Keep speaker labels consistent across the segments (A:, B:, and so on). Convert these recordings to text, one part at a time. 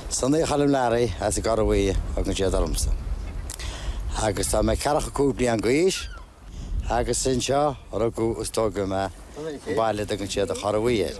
A: Sonny Choilm Larry as an gCora Bhuí a thugann siad ormsa. Agus tá mé 45 bliain d'aois agus anseo rugadh agus tógadh mé baile a dtugann siad an Chora Bhuí air.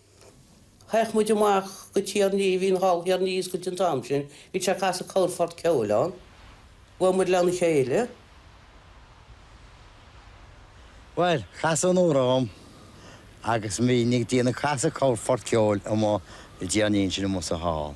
B: Théadh muid amach go Tír an Fhia, bhí an hall Thír an Fhia oscailte an t-am sin, bhí sé ag casadh corrphort ceoil ann, bhuail muid lena chéile.
A: Bhuel, casadh Nóra orm agus bhínn ag déanamh ag casadh corrphort ceoil amuigh i dTír an Fhia ansin amuigh sa hall.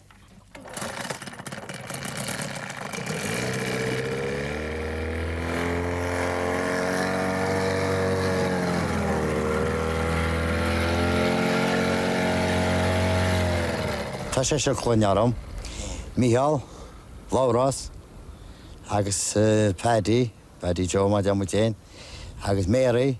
A: Tá seisear clainne orm, Mícheál, Labhrás agus Paddy, Paddy Joe mar a deir muid féin, agus Mary,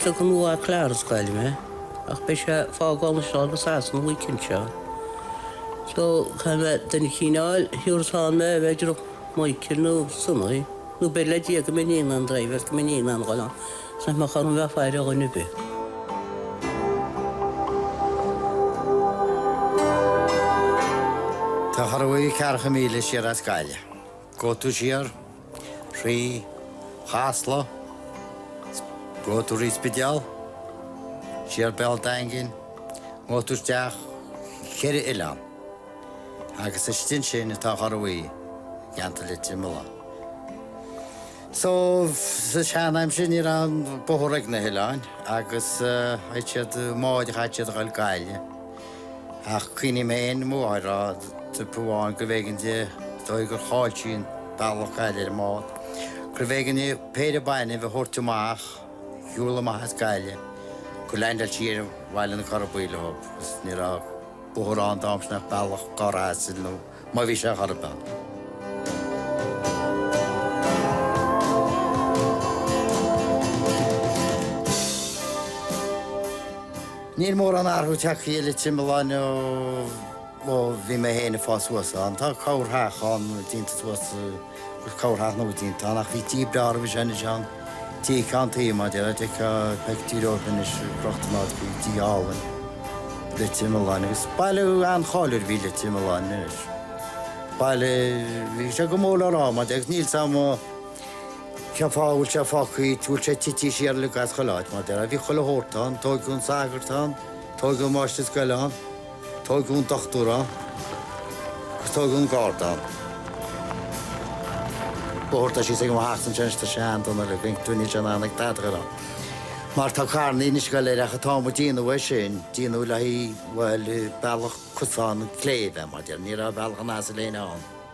A: Tugann mo mhac Labhrás Gaillimh mé, ach beidh sé ag fágáil anseo go Sasana an weekend seo. So, caithfidh mé duine eicínt a fháil a thiúrfas ann mé, b'fhéidir Michael nó Sonny, nó b'fhéidir le Dia go mbeinn in ann driveáil, go mbeinn in ann a ghoil ann. Nach mbeadh orm bheith ag faire ar dhuine ar bith. Tá an Chora Bhuí ceathracha míle siar as Gaillimh. Gabhfaidh tú siar thrí Chasla, gabhfaidh tú thrí Spidéal, siar Béal Daingin, gabhfaidh tú isteach ceithre oileán. Agus istigh ansin atá an Chora Bhuí i gceantar Leitir Mealláin. Sa tseanaimsir ní raibh bóthar ag na hoileáin agus chaitheadh siad, i mbáid a chaitheadh siad a ghabháil Gaillimh. Ach cuimhním féin Mamó a rá trip amháin gurbh éigean di dóigh gur chaill sí an bealach i nGaillimh ar an mbád, gurbh éigean di péire bainbh a thabhairt amach, shiúl amach as Gaillimh, gur leaindeáil sí ar Bhaile na Cora Buí leob, agus ní raibh bóthar
C: ann an t-am sin ach bealach carr asail nó. má bhí sé chor ar bith ann. Níl mórán athrú tagtha uile timpeall ann ó bhí mé féin ag fás suas ann. Tá corrtheach ann déanta suas. Is corrtheach nua déanta ann, ach bhí tigh breá roimhe sin anois ann, tigh ceann tuí, mar deir d'fheicfeá pictiúr dhó anois, crochta in áit faoi tigh álainn, Leitir Mealláin, agus baile an-cháiliúil a bhí i Leitir Mealláin anois. Baile, bhí sé go mór le rá, mar deir, agus níl's 'am cén fáth a bhfuil sé fágtha, bhfuil sé titithe siar uilig as chuile áit, mar deir, bhí chuile shórt ann, tóigeadh an sagart ann, tóigeadh an máistir scoile ann, Tógadh an dochtúir ann agus tógadh an garda ann. Bóthar tá síos ag mo theachsa anois, tá sé an-dona ar a chuid toinne sin ann ag Peadar ann. Mar tá carranna anois ag goil air ach an t-am a déanadh é sin, déanadh le haghaidh, bhuel, bealach cosán an chléibh, mar déarfainn, ní raibh bealach an asail fhéin ann.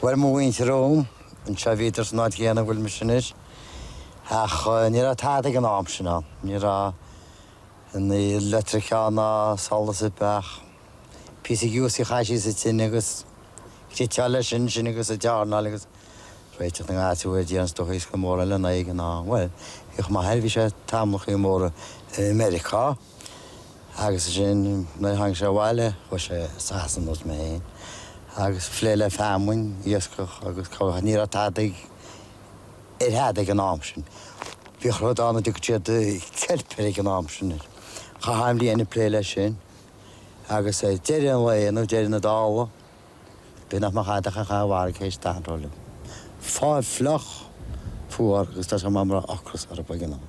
C: Bhuel, mo mhuintir romham anseo, bhíodar san áit chéanna a bhfuil mise anois, ach ní raibh tada ag an am sin ann, ní raibh aon leictreachas ná solas ar bith ach píosa giúsaí a chaith síos sa tine agus cniotáil leis sin agus ag dearnáil agus réiteach na ngáis a dhéanamh is dócha iasc mór eile ná éigin ná, bhuel, bhíodh m'athair, bhí sé tamallacha móra i Meiriceá. agus ansin nuair a tháinig sé abhaile chuaigh sé go Sasana, nós mé féin, agus ag plé le feamainn, iascach agus cogadh. Ní raibh tada ag, ar thada ag an am sin. Bhíodh rud ann a dtugadh siad ceilp air ag an am sin. Chaith an bhliain ag plé leis sin agus ag deireadh an lae nó ag deireadh na dála, bíodh nach mbeadh tada acu dá bharr théis an anró uilig. Fáil fliuch, fuar agus tá sé mar a mbeadh ocras orthu ag an am.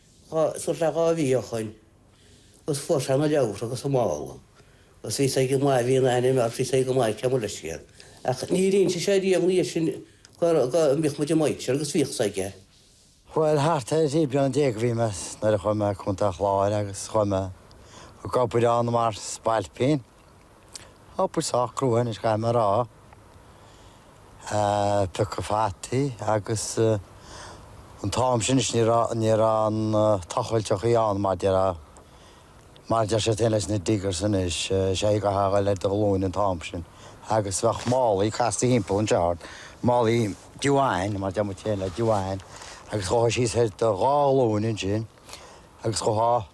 B: Thart fá dhá mhí ó shoin, agus fuair sé na leabhra agus an mála, agus bhí sé go maith, bhí an aithne ann, bhí sé go maith aici amuigh leis iad. Ach níor inse sé riamh ina dhiaidh sin go mbíodh muid ag maidhtseáil agus bhíodh a fhios aige. Bhuel,
C: thart ar thrí bliana déag a bhí mise nuair a chuaigh mé go Contae an Chláir agus chuaigh mé go go Boirinn mar spailpín. Obair sách crua anois, caithfidh mé a rá, piocadh fataí agus an t-am sin anois ní raibh, ní raibh aon tochailteachaí ann mar deir, mar a deir siad féin leis na diggers anois, is é an chaoi a gcaithfeá a dhul ar do ghlúine an t-am sin agus bheadh málaí casta thimpeall an tseárd, málaí diwan mar a deir muid féin le diwan agus ghabhfá síos ar do dhá ghlúine ansin agus ghabhfá.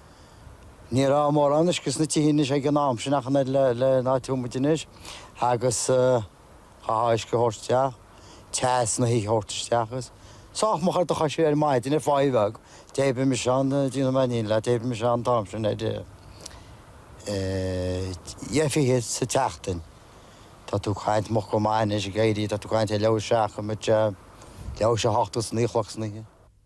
C: Ní raibh mórán uisce sna tithe anois ag an am sin ach an oiread leis an áit a bhfuil muid anois agus chaithfeá uisce a thabhairt isteach, teas ina thithe a thabhairt isteach agus sách moch ar do chois ar maidin ar pháigh bheag, d'oibrigh mise ann, déanfaidh mé an fhírinne leat, d'oibrigh mise ann an t-am sin ar dheich fichead sa tseachtain. Tá tú ag caint moch go maith anois ag éirí, tá tú ag caint ar leathuair théis a seacht, leathuair théis a sé, hocht agus naoi a chlog san oíche.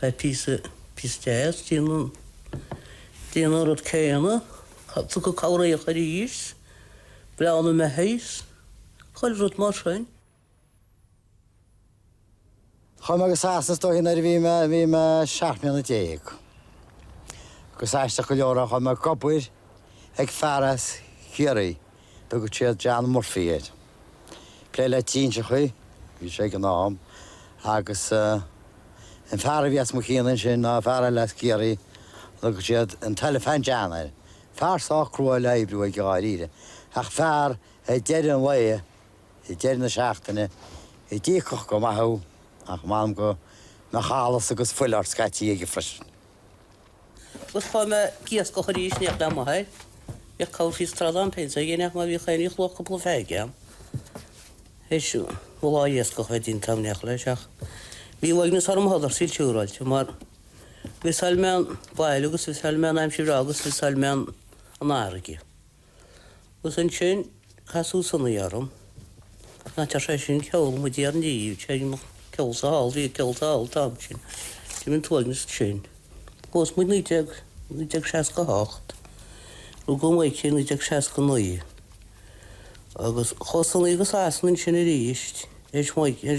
A: Tá píosa deas ag déanamh an rud céanna tugtha cabhraíocht arís, bleán na mbeithíoch is chuile rud mar sin.
C: Chuaigh mé go Sasana is dóigh sin nuair a bhí mé, bhí mé seacht mbliana déag. Agus aisteach go leor, chuaigh mé ag obair ag fear as Ciarraí. Dtugadh siad John Murphy air. Plé le trinseachaí a bhí sé ag an am agus an fear a bhí as mo chion ansin ná fear eile as Ciarraí a dtugadh siad an tElephant John air. Fear sách crua le hoibriú aige dháiríre ach fear é ag deireadh an lae, ag deireadh na seachtaine, a d'íocfadh go maith thú ach m'anam go mbeadh allas agus fuil ort scaití aige freisin.
A: Agus chuaigh mé ag iascach arís in éineacht le m'athair. Bhíodh cabhair síos trá dom péint a dhéanamh má bhíodh aon ní chloch cúpla feirge ann. Is iomaí lá iascach a bhí déanta agam, in éineacht leis ach bhí uaigneas orm i Huddersfield siúráilte mar mhissáil mé an baile agus mhissáil mé an aimsir agus mhissáil mé an fharraige. Agus ansin casadh Sonaí orm. Ná deir sé sin ceol mar a déarfá, téigeanach ceol sa hall, bhí ceol sa hall an t-am sin, d'imigh an t-uaigneas ansin. Phós muid naoi déag, naoi déag seasca a hocht, rugadh Maidhcí i naoi déag seasca naoi. Agus chuaigh Sonaí go Sasana ansin aríst, éis m'oige,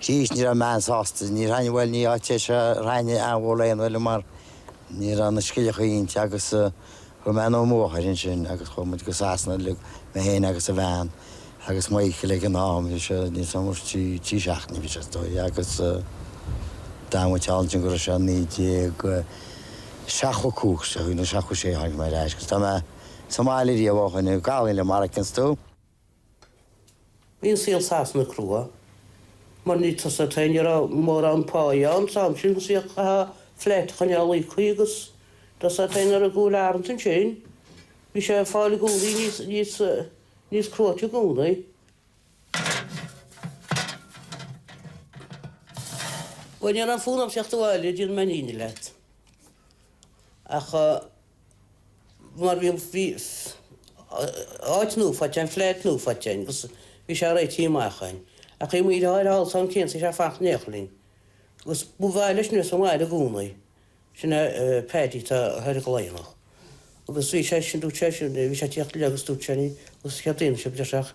C: Arís ní raibh mé an-sásta. Ní raibh aon, bhuel, ní áit é seo a raibh aon mhórán duine liom mar ní raibh na scilleacha inti agus chuaigh mé ar an mbóthar ansin agus chuaigh muid go Sasana uilig, mé féin agus an bhean agus Michael ag an am, bhí sé níos mó ná trí, trí seachtainí a bhí sé is dóigh agus d'fhan muid thall ansin go raibh sé naoi déag seachtó a cúig, seachtó, seachtó sé a tháinig mé ar ais agus tá mé sa mbaile riamh ó shin, ag fáil liath mar a fheiceanns tú.
A: Bhí an saol i Sasana crua, mar ní, tá a fhios agat, ní raibh mórán páighe ann san am sin, an saíocht chaithfeá flat a choinneáil íoctha agus tá a fhios agat ar an gcúl arms ansin, bhí sé ag fáil i gcónaí níos, níos, níos cruaite i gcónaí. Bhuel, ní raibh fonn orm theacht abhaile, déanfaidh mé an fhírinne leat. Ach. mar bhí an áit nua faighte, an flat nua faighte againn agus bhí sé réitithe amach againn. Ach bhí mo dheartháir thall san am céanna sa flat in éineacht linn. Agus ba mhaith leis a bheith sa mbaile i gcónaí. Sin é Paddy atá thoir i gCladhnach. Agus bhí sé sin, dúirt sé sin, bhí sé ag tíocht abhaile agus dúirt sé, agus céard a dhéanfadh sé breis ach.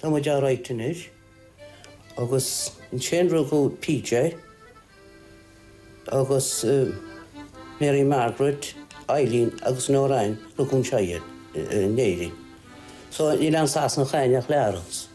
B: Tá muid alright anois. Agus ansin rugadh PJ agus Mary Margaret, Eileen agus Noreen, rugadh anseo iad, in Éirinn. So níl aon Sasanach againn ach triúr acu.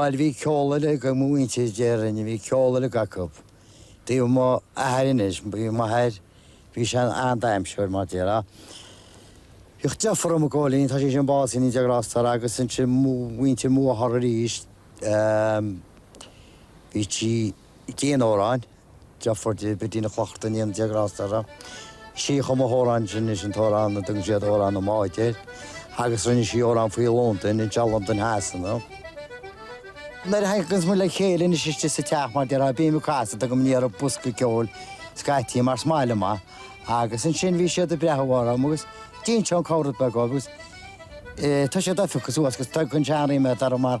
C: Bhail bhí ceol uilig ag mo mhuintir déarfainn, bhí ceol uilig acu. Taobh m'athar anois, bhí m'athair, bhí sé an-damhsóir mar déarfá. Bhí deartháir agam Cóilín, tá sé sin básaithe i naoi déag Ros Dara agus ansin muintir mo mháthar aríst, bhí sí, Dhein Odhráin de Fordun go dtí na Clochta in 11 Ráth Staire sí. Chum sí amhrán ansin an t-amhrán a dtugann siad Amhrán na mBád air agus rinne sí amhrán faoi Londain in dteach Londain Shasana. Nuair a thaganns muid le chéile anois istigh sa teach, mar déarfá, bím ag casadh, tugaim aniar bosca ceoil scaití mar smile amach agus ansin bhí siad ag breathnú orm agus d'inseoinn comhrá beag dhóibh agus tá siad oifiúcach suas agus tugann seanrí mé dar mar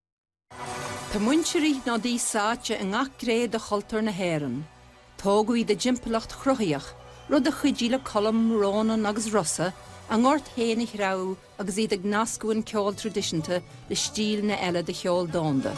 D: Tá muintir Uí Shnodaigh sáite i ngach gné de chultúr na hÉireann. Tógadh iad i dtimpeallacht chruthaitheach, rud a chuidigh le Colm, Rónán agus Rossa a ngort féin a threabhadh agus iad ag nascadh an ceol traidisiúnta le stíleanna eile de cheol domhanda.